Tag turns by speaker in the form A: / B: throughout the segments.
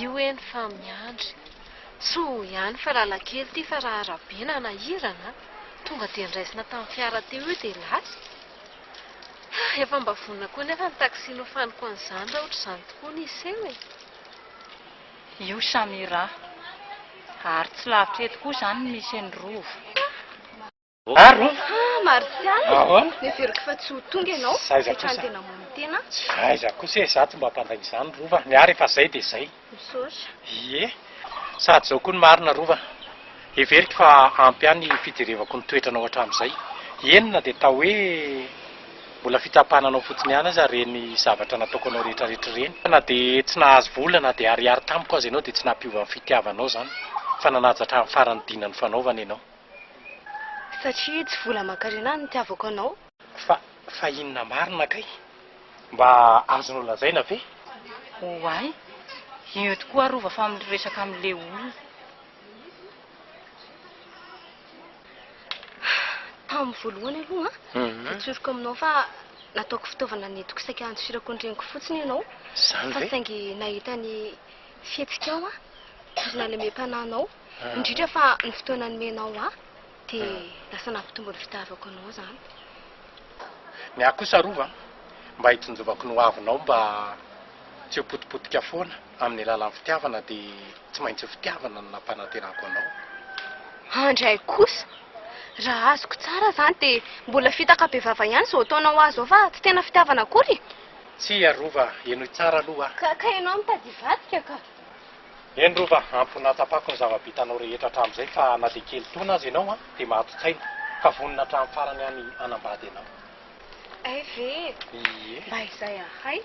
A: Io eny fa miandry. Tsoho ihany fa lalan-kely ity fa raha arabe na nahirana tonga dia niraisina tamin'ny fiara teo io dia lasa. Hay efa mba vonona koa nefa ny taxi nofaniko an'izany raha ohatr'izany tokoa ny hiseho e.
B: Io Samira. Ary tsy lavitra eto koa izany ny misy an'i Rova. Maro an! Ah,
A: Martial! Ahoana? Neveriko fa tsy ho tonga ianao, Zay izany fetrany kosa. tena mony tena. Tsy fahaiza kosa e,
C: za tsy mba mpandainga izany Rova, ny ahy rehefa zay dia zay. Misaotra.
A: Ie,
C: sady zao koa ny marina Rova, heveriko fa ampy ahy ny fijerevako ny toetranao hatramin'izay, eny na dia atao hoe mbola fitsapana anao fotsiny ihany aza ireny zavatra nataoko anao rehetrarehetra ireny, fa na dia tsy nahazo vola na dia ariary tamiko aza ianao dia tsy nampiova ny fitiavanao izany, fa nanaja hatramin'ny faran'ny dina nifanaovana ianao.
A: Satria tsy vola aman-karena no nitiavako anao. Fa, fa
C: inona marina kay? Mba azonao lazaina ve? Oay,
B: io tokoa rova fa miresaka amin'le olona.
A: Tamin'ny voalohany aloha an, dia tsoriko aminao fa nataoko fitaovana nentiko saika handosirako ny reniko fotsiny ianao. Izany ve? Fa saingy
C: nahita ny
A: fihetsikao aho ary nalemem-panahinao. Indrindra fa ny fotoana nomenao ahy dia lasa nampitombo ny fitiavako anao izany.
C: Ny ahy kosa Rova mba hitsinjovako ny hoavinao mba tsy ho potipotika foana amin'ny alalan'ny fitiavana dia tsy maintsy ho fitiavana no nampanaterahako anao. Andray
A: kosa, raha azoko tsara izany dia mbola fitaka bevava ihany izao ataonao ho ahy izao fa tsy tena fitiavana akory e! Tsia Rova,
C: henoy tsara aloha aho. Ka ianao mitady
A: hivadika ka! Eny Rova,
C: ampy nahatapako ny zava-bitanao rehetra hatramin'izay fa na dia kely taona aza ianao dia mahato-tsaina ka vonona hatramin'ny farany aho ny hanambady anao. Hay ve
A: e! Ie. Mba izay
C: ahay.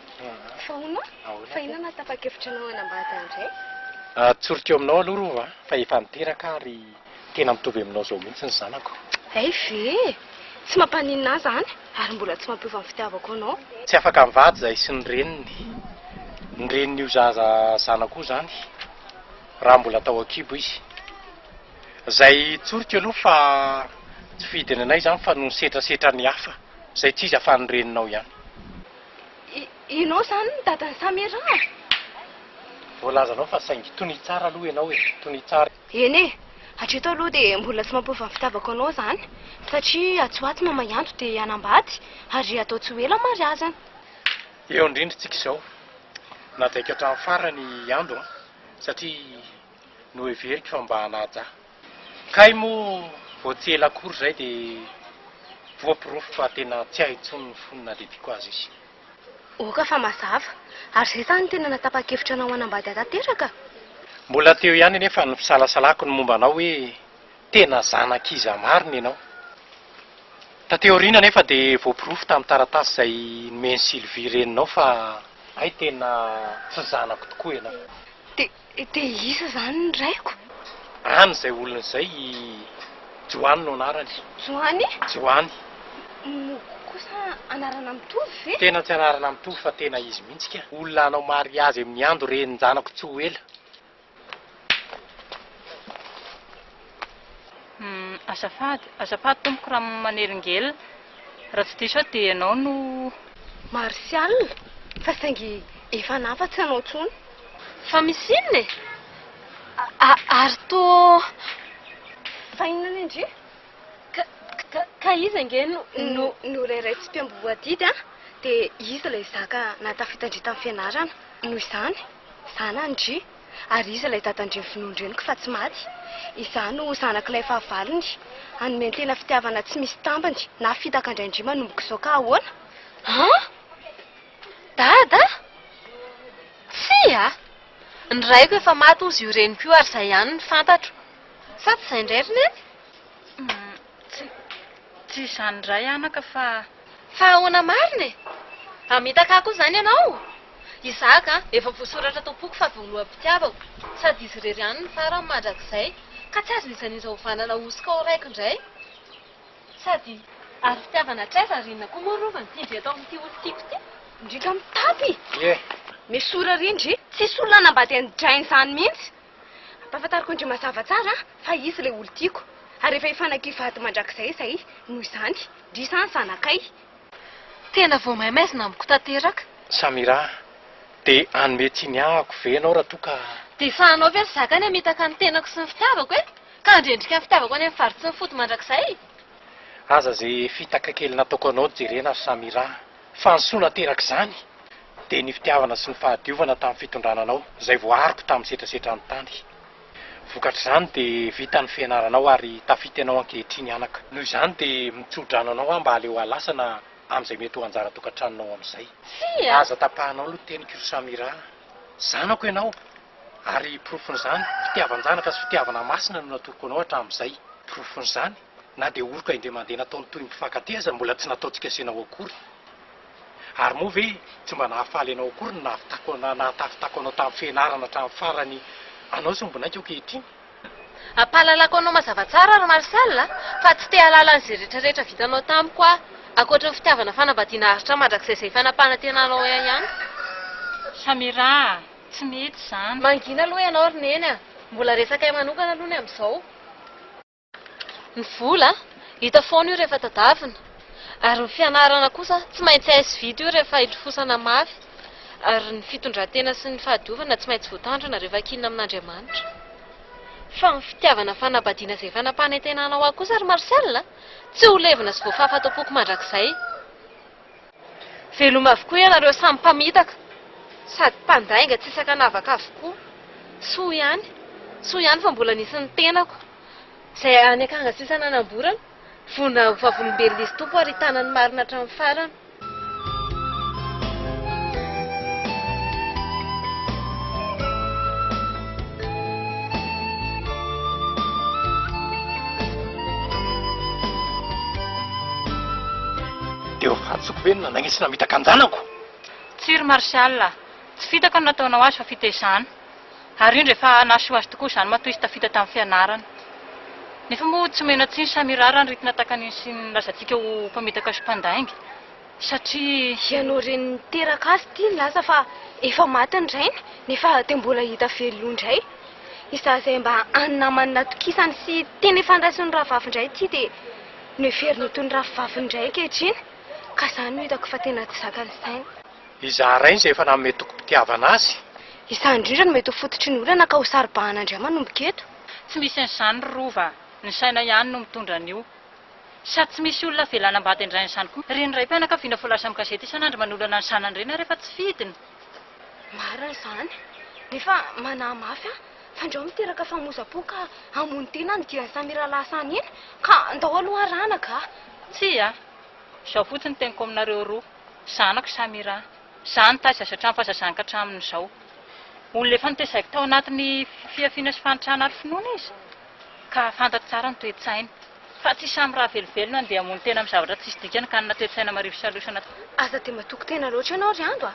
A: Fa hono aho, fa inona no hahatapa-kevitra anao hanambady ahy indray? Atsoriko aminao aloha
C: Rova fa efa niteraka aho ry. Tena mitovy aminao zao mihitsy ny zanako. Hay ve e!
A: Tsy mampaninona ahy zany ary mbola tsy mampiova ny fitiavako anao. Tsy afaka mivady
C: zahay sy ny reniny. Ny renin'io zaza zanako io zany raha mbola tao an-kibo izy. Zay tsoriko aloha fa tsy fidiny anay zany fa noho ny setrasetra ny hafa zay tsy izy afa ny reninao ihany.
A: Ianao zany ny dadan'i Samira a! Voalazanao
C: fa saingy tonia tsara aloha ianao e! Tonia tsara. Eny e!
A: Hatreto aloha dia mbola tsy mampiova ny fitiavako anao izany satria atsy ho atsy mamay andro dia hanambady ary atao tsy ho ela ny mariazina. Eo
C: indrindra isika izao. Najaiko hatramin'ny farany i Ando an, satria noheveriko fa mba hanaja ahy. Kay moa vao tsy ela akory izay dia voaporofo fa tena tsy ahy intsony ny fony nadediko azy izy. Oka fa
A: mazava. Ary izay sa no tena natapa-kevitra anao hanambady ahy tanteraka? Mbola teo
C: ihany anefa ny fisalasalako ny momba anao hoe tena zanak'iza marina ianao. Taty aoriana anefa dia voaporofo tamin'ny taratasy izay nomen'i Sylvie reninao fa hay tena tsy zanako tokoa ianao. Dia te
A: hihisa izany ny raiko. Any izay
C: olona izay i Johany no anarany. Johany?
A: Johany.
C: Moko
A: kosa anarana mitovy ve? Tena tsy anarana mitovy
C: fa tena izy mihitsy ka. Olona hanao mariazy amin'ny Ando renin-janako tsy ho ela.
B: Azafady, azafady tompoko raha manelingelina, raha tsy diso aho dia ianao no. Martial,
A: fa saingy efa nafa tsy anao intsony. Fa misy inona e? Ary toa. Fa inona anie ndry? Ka iza ange no. Norairatsim-piamboho adidy an, dia izy ilay zaka nahatafita ndry tamin'ny fianarana, noho izany, izany an ndry. Ary iza ilay dadan-dreniko vonoin-dreniko fa tsy maty? Izaho no zanak'ilay fahavalony, hanomen-tena fitiavana tsy misy tambiny, na fitaka an-dRaindry manomboka izao ka ahoana? An! Dada? Tsia! Ny raiko efa maty hozy io reniko io ary izay ihany no fantatro. Sa tsy izay indray ry Neny? Tsy,
B: tsy izany indray anaka fa. Fa ahoana
A: marina e? Hamitaka ahy koa izany ianao? Isaka, efa voasoratra tao am-poko fa voaloham-pitiavako, sady izy irery ihany no farany mandrakizay, ka tsy azon'iza n'iza hovanana ho hosoka ho raiko indray. Sady, ary fitiavana hatraiza ary inona koa moa rova no tian-dry eto amin'ity olon-tiako ity? Indrindra amin'ny mpitapy! Ie! Nesory ary ndry! Tsisy olona hanambady an'i Jane izany mihitsy! Ampahafantariko an-dry mazava tsara fa izy ilay olon-tiako, ary efa hifanaky vady mandrakizay izahay noho izany, ndry sa ny zanakay. Tena vao maimaizina amiko tanteraka. Samira,
C: dia hanome tsiny ahako ve ianao raha toa ka. Dia efahanao ve ry
A: zaka ny hamitaka ny tenako sy ny fitiavako e? Ka handrendrika ny fitiavako any amin'ny fary tsy mifoto mandrakizay? Aza
C: izay fitaka kely nataoko anao no jerena ry Samira fa ny soa naterak'izany dia ny fitiavana sy ny fahadiovana tamin'ny fitondrana anao izay voariko tamin'ny setrasetran'ny tany. Vokatr'izany dia vita ny fianaranao ary tafita ianao ankehitriny anaka. Noho izany dia mitsodrano anao aho mba aleo alasana amin'izay mety ho anjara tokantranonao amin'izay. Tsia! Aza tapahanao aloha ny teniko ry Samira a! Zanako ianao ary porofon'izany, fitiavan-janaka sy fitiavana masina no natoroko anao hatramin'izay. Porofon'izany, na dia oroka indray mandeha nataony toy ny mpifankatia aza mbola tsy nataontsika asehina ho akory. Ary moa ve tsy mba nahafaly anao akory ny nahatafitako anao tamin'ny fianarana hatramin'ny farany anao sy ny bonaiko ankehitriny? Ampahalalako
A: anao mazava tsara ry Marcel a, fa tsy te hahalala an'izay rehetra rehetra vitanao tamiko aho, ankoatry ny fitiavana fanambadiana aharitra mandrakizay izay efa nampanantenanao ahy ihany. Samira
B: a! Tsy mety izany. Mangina aloha ianao ry
A: Neny a! Mbola resakay manokana aloha ny amin'izao. Ny vola, hita foana io rehefa tadavina. Ary ny fianarana kosa, tsy maintsy hay sy vita io rehefa ilofosana mafy. Ary ny fitondran-tena sy ny fahadiovana, tsy maintsy voatandrina rehefa kinina amin'Andriamanitra. Fa ny fitiavana fanambadiana izay efa nampanantenanao ahy kosa ry Marcel a! Tsy ho levona sy voafafa ato am-poko mandrakizay. Veloma avokoa ianareo samy mpamitaka sady mpandainga tsy sakanavaka avokoa. Soa ihany, soa ihany fa mbola nisy ny tenako izay any akanga sisa nanamborana, vonona ho vavolombelona izy Tompo ary hitana ny marina hatramin'ny farany.
C: Dia eo fantsiko ve no nanainga sy namitaka an-janako? Tsia ry
B: Martial a! Tsy fitaka no nataonao azy fa fitaizana. Ary indro efa nahasoa azy tokoa izany matoa izy tafita tamin'ny fianarana. Nefa moa tsy omena tsiny Samira raha ny ritina takan'iny sy ny lazantsika ho mpamitaka sy mpandainga. Satria. Ianao reny
A: niteraka azy ity nilaza fa efa maty ny rainy nefa dia mbola hita velona indray. Izaho izay mba an'ny namany natokisany sy tena efa niraisin'ny rahavavy indray ity dia. No heveriny ho toy ny rafivaviny indray ankehitriny, ka izany no hitako fa tena tsy zakan'ny sainy. Izaho rainy
C: izay efa nanome tokim-pitiavana azy. Izaho indrindra no
A: mety ho fototry ny olana ka ho saro-bahana indray manomboka eto. Tsy misy an'izany
B: ry Rova, ny saina ihany no mitondra an'io. Sady tsy misy olona avela hanambady an-drainy izany koa. Ireny raim-pianakaviana voalaza amin'ny gazety isan'andro manolana ny zanany ireny ary efa tsy fidiny. Marina
A: izany. Nefa manahy mafy aho. fa ndrao miteraka fahamoza-po ka hamono tena any giran'i Samiralahy Sani iny ka ndao aloha arahana ka. Tsia,
B: izao fotsiny teniko aminareo roa, zanako Samira, za nitaiza azy hatramin'ny fahazazany ka hatramin'izao. Olona efa notezaiko tao anatin'ny fihafiana sy fahantrana ary finoana izy ka fantatro tsara ny toe-tsainy. Fa tsy samy raha velovelona no dia hamono tena amin'ny zavatra tsisy dikany ka hanana toe-tsaina marivo sy alosa anaty fo. Aza dia matoky
A: tena loatra ianao ry Ando a!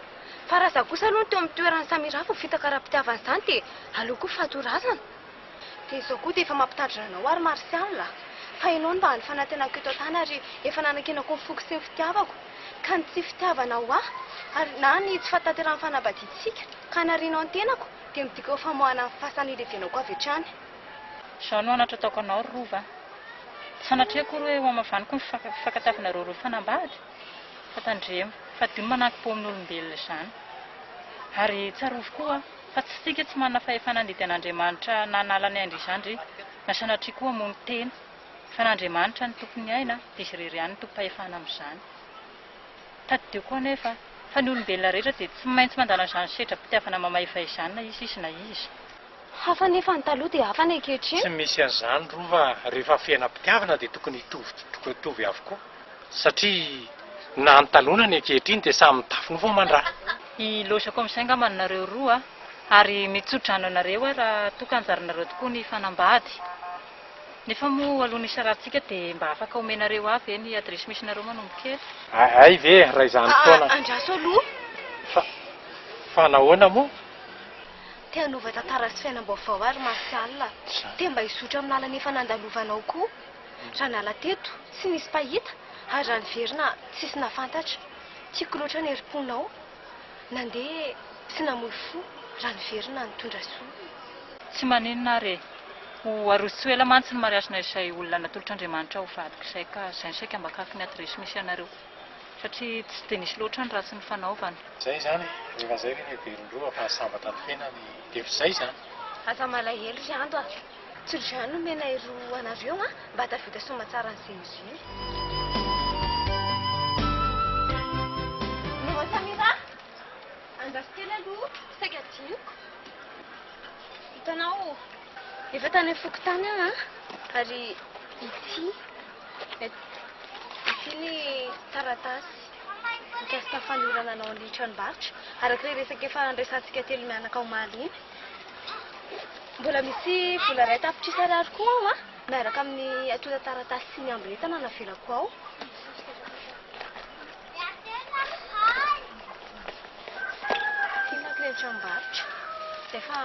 A: Fa raha izaho kosa aloha no teo amin'ny toeran'i Samira vao fitaka ara-pitiavana izany dia aleoko ho faty ho razana. Dia izao koa dia efa mampitandrina anao aho ry Martial a! Fa ianao no mba hany fanantenako eto an-tany ary efa nanankinako ny foko sy ny fitiavako. Ka ny tsy fitiavana ho ahy ary na ny tsy fahatanterahan'ny fanambadiantsika ka hanarianao ny tenako dia midika ho famoahana ny fasan'ny hilevenako avy hatrany. Izao no
B: anatra ataoko anao ry Rova a! Tsy sanatria akory hoe ho hamavaniko ny fifankatafinareo roa mpanambady, fa tandremo fa dimy manankim-po amin'ny olombelona izany. Ary tsarovy koa fa tsy isika tsy manana fahefana handidy an'Andriamanitra na hanala ny ain-dry zandry na sanatria koa hamono tena, fa an'Andriamanitra no tompon'ny aina dia izy irery ihany no tompom-pahefana amin'izany. Tadidio koa anefa fa ny olombelona rehetra dia tsy maintsy mandana izany sedram-pitiavana mamaefa izany na iza izy na iza. Hafa anefa
A: ny taloha dia hafa ny ankehitriny. Tsy misy an'izany
C: rova rehefa fiainam-pitiavana dia tokony hitovy avokoa satria na ny taloha na ny ankehitriny dia samy mitafy nofo aman-draha. Hilaozako
B: amin'izay angamba anareo roa ary mitso-drano anareo aho raha toa ka anjaranareo tokoa ny hifanambady. Nefa moa alohan'ny hisarahantsika dia mba afaka omenareo ahy ve ny adiresy misy anareo manombokely? Hay ve
C: raha izany foana. Andraso aloha. Fa nahoana moa? Te
A: hanova tantara sy fiainam-baovao ary Martial a! Te mba hizotra amin'ny lalana efa nandalovanao koa! Raha niala teto, tsy nisy mpahita, ary raha niverina, tsisy nahafantatra. Tiako loatra ny herim-ponao. Nandeha sy namoy fo, raha niverina nitondra soa. Tsy maninona
B: ary e! Ho aroso tsy ho ela mantsy ny mariazinay izay olona natolotr'Andriamanitra ho vadiko izay ka zainy saika mba akaky ny adiresy misy anareo. satria tsy dia nisy loatra ny ratsy nifanaovana. Zay izany e!
C: Rehefa zay ve ny heverin-droa fa sambatra ny fiainany efa izay izany? Aza malahelo
A: ry Ando a! Tsy ry Jean no omena ery ho anareo an! Mba hahatafita soamantsara an'i Zéuzéu. Maman Samira! Andafy kely aloha, saika diniko. Hitanao. Efa tany amin'ny fokontany aho an, ary ity, ity ny taratasy mikasika ny fanolorana anao ny tranombarotra, araka ilay resaka efa niresahantsika telo mianaka omaly iny. Mbola misy vola iray tapitrisa ariary koa ao an, miaraka amin'ny antontan-taratasy sy ny amboletana navelako ao. Ity manko ilay tranombarotra, izay fa.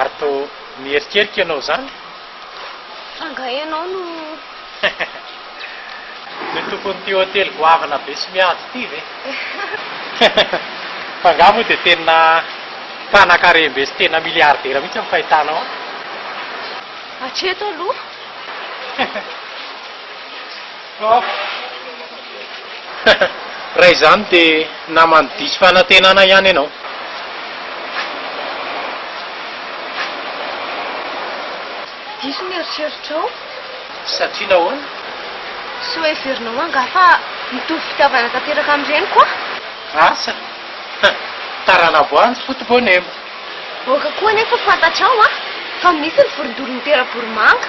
C: Ary toa miherikerika ianao izany?
A: Angaha ianao no.
C: Ny tompon'ity hotely goavana be sy miady ity ve? Fa angaha moa dia tena mpanakarem-be sy tena miliaridera mihitsy ny fahitanao ahy? Hatreto
A: aloha. Off.
C: Raha izany dia naman'ny diso fanantenana ihany ianao.
A: Diso ny eritreritrao. Satria
C: nahoana? Sao
A: heverinao angaha fa mitovy fitiavana tanteraka amin'ny reniko aho? Asa.
C: Tarana voanjo foto-boanemba. Aoka
A: koa anefa ho fantatrao an, fa misy ny vorondolo mitera-boromanga.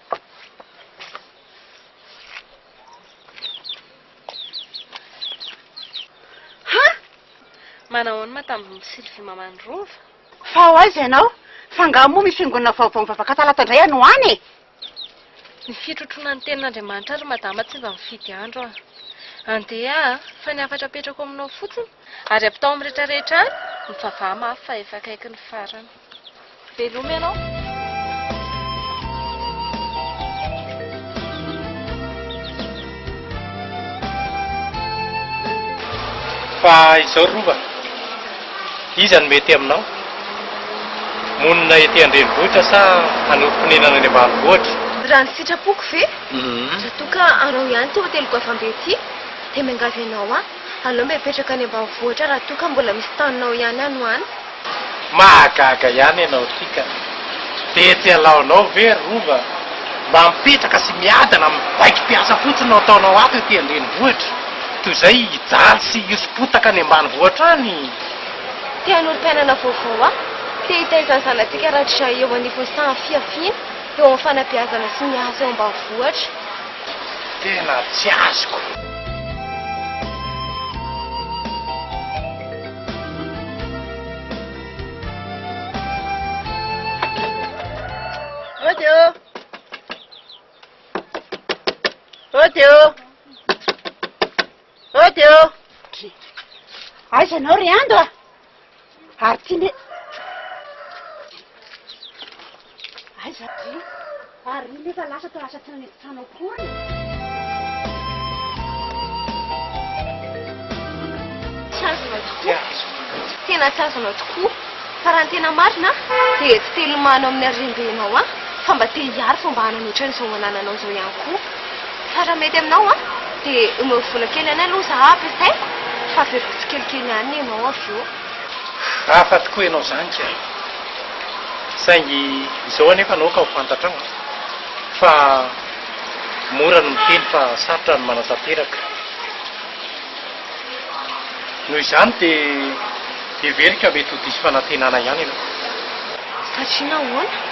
A: Ha! Manao ahoana ma tamin'i Ry Sylvie maman'i Rova? Fa ho aiza
D: ianao? Fa angaha moa misy fiangonana vaovao mivavaka talata indray any ho any e?
A: Ny fitrotroana ny tenin'Andriamanitra ry madama tsy mba mifidy andro an! Andeha an! Fa ny hafatra apetrako aminao fotsiny ary ampitao amin'ny rehetra rehetra any, mivavaha mafy fa efa akaiky ny farany. Veloma ianao.
C: Fa izao ry Rova, iza no mety aminao? Monina ety an-drenivohitra sa hanorim-ponenana any ambanivohitra? Raha ny sitrapoko
A: ve? Raha toa ka hanao ihany ity hoteloko hafa be ity dia miangavy anao aho. Aleo mba hipetraka any ambanivohitra raha toa ka mbola misy taninao ihany any ho any. Mahagaga
C: ihany ianao ity ka! Dia tsy halaonao ve ry Rova mba mipetraka sy miadana amin'ny baiki-piasa fotsiny no ataonao ato ety an-drenivohitra toy izay hijaly sy hihoso-potaka
A: any
C: ambanivohitra any? Te hanoro mpiainana
A: vaovao aho.
C: Te
A: hitaiza ny zanatsika rahatrizay eo anivon'ny saha fihafiana, eo amin'ny fanabeazana sy miasa eo ambanivohitra.
C: Tena tsy azoko. Ody
D: ô! Ody ô! Ody ô! Dry! Aiza ianao ry Ando a? Ary ty ne Aiza ty Ary io nefa lasa to lasa tsy nanetitana akory
A: Tsy azonao tokoa Tena tsy azonao tokoa Fa raha ny tena marina dia tsy te hilomano amin'ny harem-benao an Fa mba te hiaro fa mba hanana ohatran'izao anananao izao ihany koa Fa raha mety aminao an, dia omeo vola kely anay aloha za ampiasaiko, fa averiko tsikelikely ihany ianao avy eo. Hafa
C: tokoa ianao izany kay e! Saingy izao anefa naoka ho fantatrao an, fa mora ny miteny fa sarotra ny manatanteraka. Noho izany dia heveriko fa mety ho diso fanantenana ihany ianao. Satria
A: nahoana?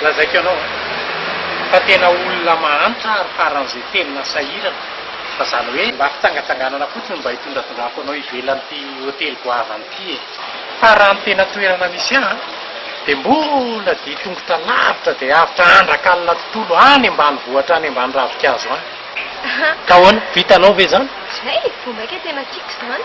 C: Lazaiko anao fa tena olona mahantra ary faran'izay tena sahirana fa zany hoe mba fitsangatsanganana fotsiny mba hitondratondrako anao ivelan'ity hotely goavana ity e. Fa raha ny tena toerana misy ahy dia mbola dia tongotra lavitra dia avotra andrak'alina tontolo any ambanivohitra any ambany ravinkazo any. Ka ahoana? Vitanao ve izany? Zay e! Vao maika
A: tena tiako izany.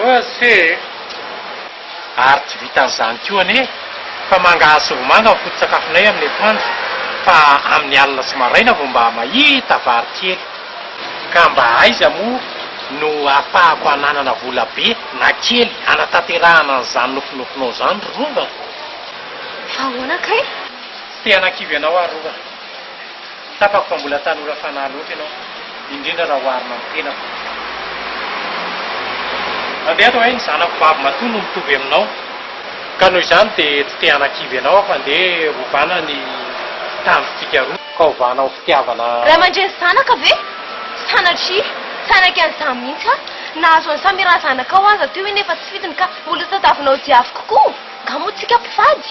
C: Ozy e! Ary tsy vitan'izany koa anie fa mangahazo sy vomanga ny foto-tsakafonay amin'ny atoandro fa amin'ny alina sy maraina vao mba mahita vary kely. Ka mba aiza moa no ahafahako hananana vola be na kely hanatanterahana an'izany nofinofinao izany ry Rova?
A: Ahoana kay? Tsy te hanakivy
C: anao aho Rova. Tsapako fa mbola tanora fanahy loatra ianao, indrindra raha oharina amin'ny tenako. Andeha ato ahay, ny zanako vavy matoa no mitovy aminao, ka noho izany dia tsy te hanakivy anao aho fa andeha hovana ny tanjontsika roa, ka hovana ho fitiavana. Ray aman-dreny zanaka
A: ve? Sanatria, tsy hanaiky an'izany mihitsy aho. Nahazo an'i Samira zanakao aza teo iny efa tsy fidiny ka mbola tadiavinao diaviko koa? Nga moa tsika mpivady?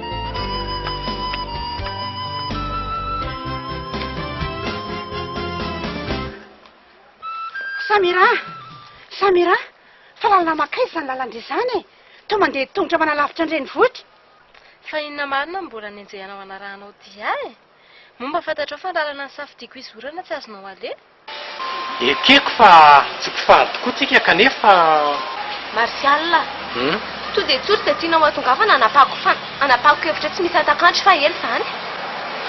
D: Samira a! Samira a! Fa lalana mankaiza izany lalan-dry izany e? Toa mandeha tongotra manalavitra ny renivohitra. Fa inona
A: marina no mbola nenjehanao hanarahanao Dia e? Moa mba fantatrao fa ny lalana nisafidiako hizorana tsy azonao aleha? Ekeko
C: fa tsy mpifady tokoa tsika kanefa. Martial
A: a! Toa dia toa ry izay tianao hatongavana hanapahako fa hanapahako hevitra tsy misy hatak'andro fa ela izany.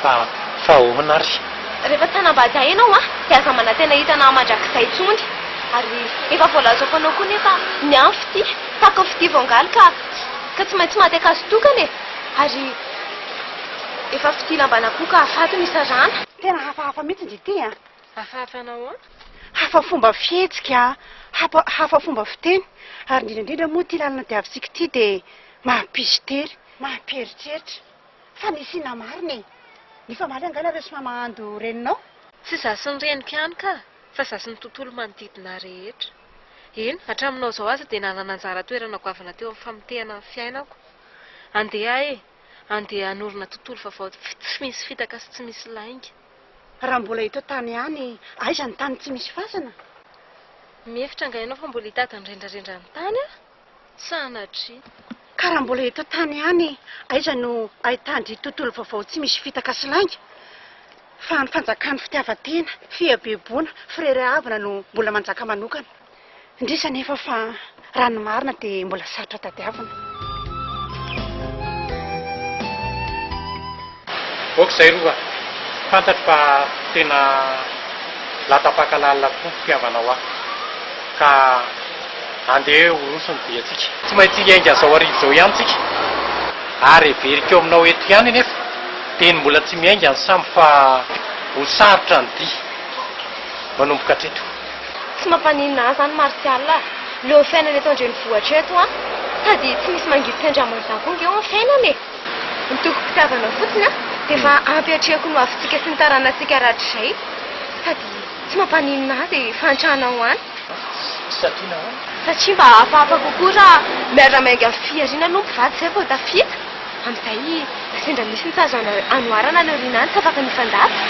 A: Fa
C: fa ahoana ary? Rehefa tsy hanambady
A: ahy ianao an, dia aza manantena hitana ahy mandrakizay intsony. Ary efa voalazako anao koa anie fa ny ahy ny fitia tahaka ny fitia voangaly ka ka tsy maintsy maty an-kazo tokana e! Ary efa fitia lamban'akoho ka hahafaty no isarahana. Tena hafahafa mihitsy.
D: Ity an! Hafa hafa hanao an!
A: Hafa fomba
D: fihetsika an! Hafa hafa fomba fiteny! Ary indrindra indrindra moa ity lalana diavintsika ity dia mampisy tery, mampieritreritra! Fa misy inona marina e! Ny famaly angaha nareo tsy maha mahandro reninao? Tsy za sy ny
A: reniko ihany kah! Fa za sy ny tontolo manodidina rehetra! Eny, hatraminao izao aza dia nanana anjara toerana goavana teo amin'ny famotehana ny fiainako! Andeha e! Andeha hanorina tontolo vaovao tsy misy fitaka sy tsy misy lainga! Raha mbola
D: eto an-tany ihany, aiza ny tany tsy misy fasana?
A: Mihevitra angaha ianao fa mbola hitady ny rendrarendran'ny tany aho? Sanatria! Ka raha
D: mbola eto an-tany ihany, aiza no ahitandry tontolo vaovao tsy misy fitaka sy lainga? Fa ny fanjakan'ny fitiavan-tena, fihabeboana, fireharehavana no mbola manjaka manokana. Indrisy anefa fa raha ny marina dia mbola sarotra tadiavina.
C: Ok zay rova, fantatro fa tena latapaka lalina tokoa ny fitiavanao ahy ka andeha horoso ny diantsika. Tsy maintsy hiainga zao hariva zao ihany tsika ary heveriko aminao eto ihany anefa dia ny mbola tsy miainga ny sambo fa ho sarotra ny dia manomboka hatreto. Tsy mampaninona
A: ahy izany Martial a! Leo fiainana eto an-drenivohitra eto an! Sady tsy misy mangidy tsy andraman'izany koa ange eo ny fiainana e! Ny tokim-pitiavana fotsiny an, dia efa ampiatrehiko ny ho avintsika sy ny taranantsika rahatrizay. Sady tsy mampaninona ahy izay fahantrana ho any. Satria
C: nahoana? Satria mba hafahafa
A: kokoa raha miara-miainga amin'ny fihariana aloha ny mpivady izay vao tafita. Amin'izay, na sendra misy ny tsy azo anoharana any aoriana any, tsy afaka mifandanja.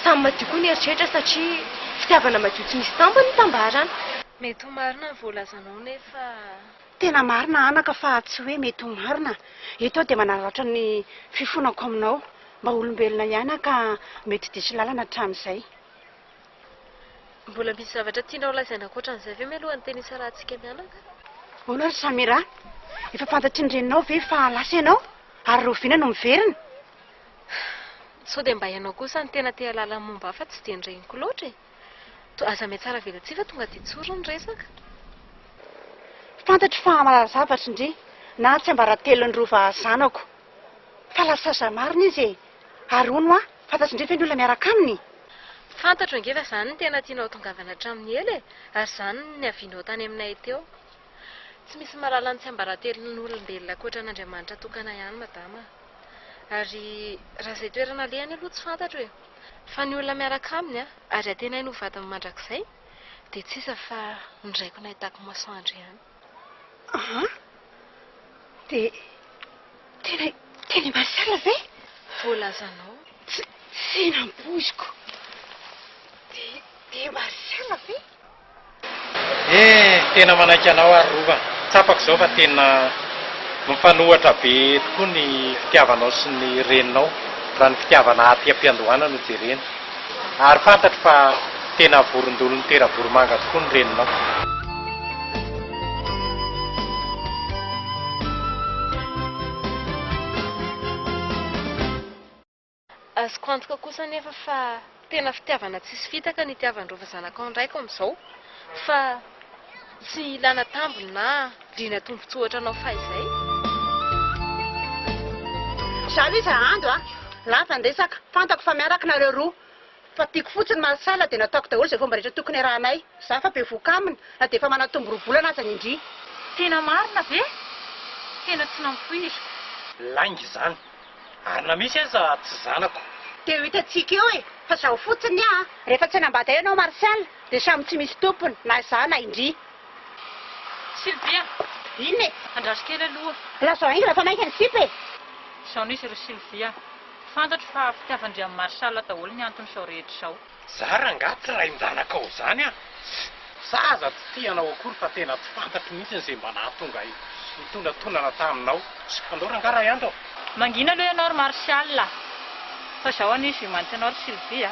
A: Samy madio koa ny eritreritra satria. Fitiavana madio tsy misy tampony ny tambarana. Mety ho marina ny voalazanao nefa. Tena
D: marina anaka fa tsy hoe mety ho marina. Eto aho dia manararaotra ny fifonako aminao. Mba olombelona ihany aho ka mety diso lalana hatramin'izay.
A: Mbola misy zavatra tianao holazaina ankoatra an'izay ve mialoha ny teny hisarahantsika mianaka? Ahoana ry
D: Samira? Efa fantatry ny reninao ve fa lasa ianao ary rahoviana no miverina?
A: Sao dia mba ianao kosa no tena te hahalala ny momba ahy fa tsy dia ny reniko loatra e! Toa aza mihatsara velatsihy fa tonga dia tsory ny resaka. Fantatro
D: fa hamarary zavatra ndry na tsiambaratelon'ny rova zanako fa lasa zà marina izy e! Ary hono hoa fantatry ndry ve ny olona miaraka aminy? Fantatro ange
A: fa zany no tena tianao hatongavana hatramin'ny ela e! Ary zany no niavianao tany aminay teo. Tsy misy mahalala ny tsiambaratelon' olombelona ankoatra an' Andriamanitra tokana ihany madama a! Ary raha izay toerana alehany aloha tsy fantatro e! Fa ny olona miaraka aminy a, ary antenainy ho vadiny mandrakizay, dia tsy iza fa ny raiko nahitako masoandro ihany. Aa!
D: Dia tena i tena i Martial ve? Voalazanao.
A: Tsy tsy
D: nampoiziko! Dia dia i Martial ve? Eh
C: tena manaiky anao ary Rova, tsapako izao fa tena mifanohitra be tokoa ny fitiavanao sy ny reninao raha ny fitiavana aty am-piandohana no jerena. Ary fantatro fa tena vorondolon'ny tera-boromanga tokoa ny reninao.
A: Azoko antoka kosa anefa fa tena fitiavana tsisy fitaka ny itiavan'ireo vazanakao ny raiko amin'izao, fa tsy ilana tambiny na liana tombotsoa ohatranao fahizay.
D: Zary izy hahandro a! Lasa ndresaka, fantako fa miaraka nareo roa. Fa tiako fotsiny mansala dia nataoko daholo izay fomba rehetra tokony arahanay. Za efa bevoka aminy na dia efa manatombo roa volana aza ny ndry. Tena marina
B: ve? Tena tsy nampoiziko. Lainga
C: izany. Ary na misy aza tsy zanako. Dia ho hitantsika
D: eo e! Fa zao fotsiny aa! Rehefa tsy hanambady ahy ianao Martial dia samy tsy misy tompony, na za na i ndry.
B: Sylvia! Inona
D: e? Andraso kely aloha.
B: Lazao haingana fa maika
D: ny sipa e! Izao no izy ry
B: Sylvia. Fantatro fa fitiavan-dRiamin'i Marshall daholo ny anton'izao rehetra izao. Za rangah tsy
C: rain-janakao zany an! Za aza tsy tia anao akory fa tena tsy fantatro mihitsy ze mba nahatonga ahy hitonantonana taminao sy anao rangah ray andro an!
B: Mangina aloha ianao ry
C: Marshall
B: a! Fa zaho anie je
C: maintiens
B: anao ry Sylvie a!